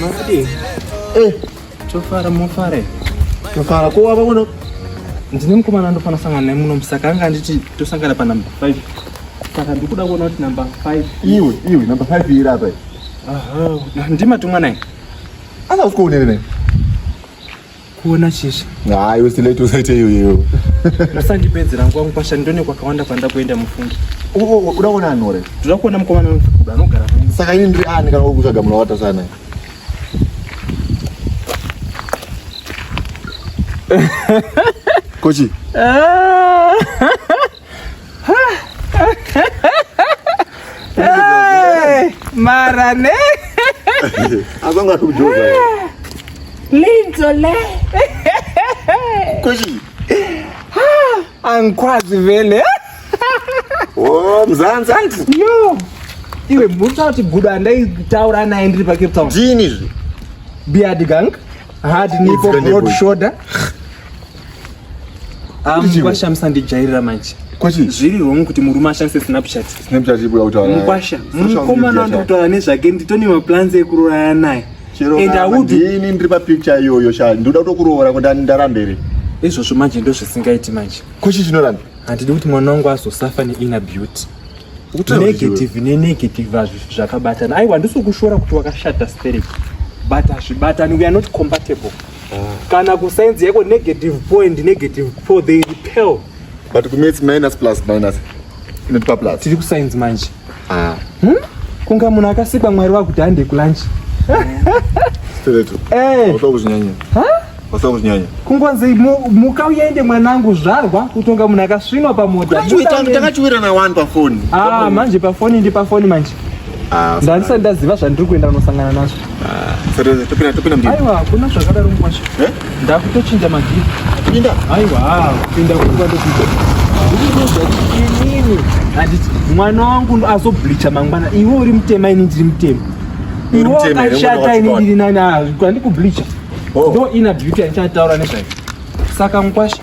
Makadii? Eh, tofara mofare. Tofara ko wava kuno? Ndine mukomana ndofana sangana naye muno musaka anga anditi tosangana pa number 5. Saka ndikuda kuona kuti number 5. Iwe, iwe number 5 iri apa. Aha, ndima tumwa naye. Anga usikuonere naye. kuona chichi hayi usilaiti usaite iyoyeyo musandipedzera nguva mukwasha ndone kwakawanda kwanda kuenda mufungi uda kuona anhu ore ndoda kuona mukomana wemufukuda anogara saka ini ndiri ani kana kutsvaga munhu wakatasana kochi ah. mara ne azanga kujoza linzo le kushi angikwazi vele oh mzanzi anti yo iwe mutsa kuti gudo andaitaura naye ndiri pacape town zini izvi beard gang hard nipo broad shoulder mukwasha ah, musandijairira manje zviri wrong kuti murume ashandise snapchat mukwasha mukomana ndikutaura nezvake nditone maplans ekuroyana naye ini ndiri papicture iyoyo sha ndoda kutokuroora kuti ndarambere izvozvo manje ndozvisingaiti manje kuchi chinoramba handidi kuti mwana wangu azosafa neina beauty negative nenegative azvi zvakabatana aiwa ndisikushora kuti wakashata stereki but hazvibatani we are not compatible kana kusainzi yako negative point negative four they repel but kumates minus plus minus inotipa plus tiri kusainzi manje ah. hmm? kunga munhu akasikwa mwari wakuti hande kulanchi eh. kungonzi muka uyaende mwanangu zvarwa kutonga munhu akasvinwa pamota takachiwirana wani pafoni ah, manje pafoni ndi pafoni manje Ah, ndandisati ndaziva zvandiri kuenda kunosangana nazvo ah, aiwa hakuna zvakadaro mukwasha eh? ndakutochinja magii aiwa ah, kupinda kuainini handiti mwana wangu azoblicha mangwana iwe uri mutema ini ndiri mutema iwe wakashata ini ndiri nani handikublicha oh. ndo ina beauty yandichataura nezvayo saka mukwasha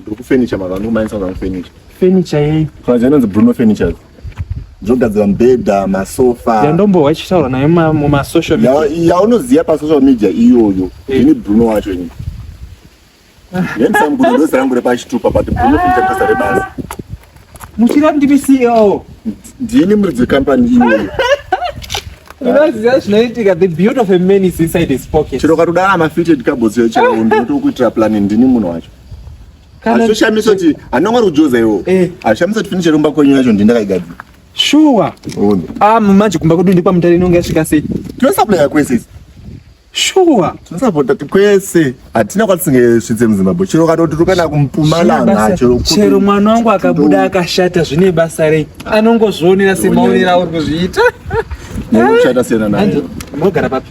Ndiri kufurniture maka ndikumanisa zvangu furniture. Furniture yei? Furniture inonzi Bruno Furniture. Ndinogadzira mubhedha, masofa. Yandombohwa ichitaura nayo muma social media. Yaunoziva pa social media iyoyo. Eh. Ini Bruno wacho ini. Yendisam kuti ndozi rangu repachitupa but Bruno Furniture ndozi rebasi. Muchira ndimi CEO. Ndini muridzi wecompany iyoyo. unoziva zvinoitika the beauty of a man is inside his pocket chero ukatodara mafitted kabotsi yo chero ndotokuitira plani ndini munhu wacho Kana zvoshamisa kuti anonga ari kujoza iwo. Eh. Azvishamisa kuti finish romba kwenyu yacho ndinda kaigadzira. Shuwa. Uone. Ah, manje kumba kwedu ndikwa mutare inonga yasvika sei? Tinosaplaya kwese. Shuwa. Tinosapota kwese. Hatina kwatisinge svitse muZimbabwe. Chero katoti tukana kumpumalanga chero kuti. Chero mwana wangu akabuda akashata zvine basa rei. Anongozvionera semaonera auri kuzviita. Nekushata siyana naye. Mogara papi?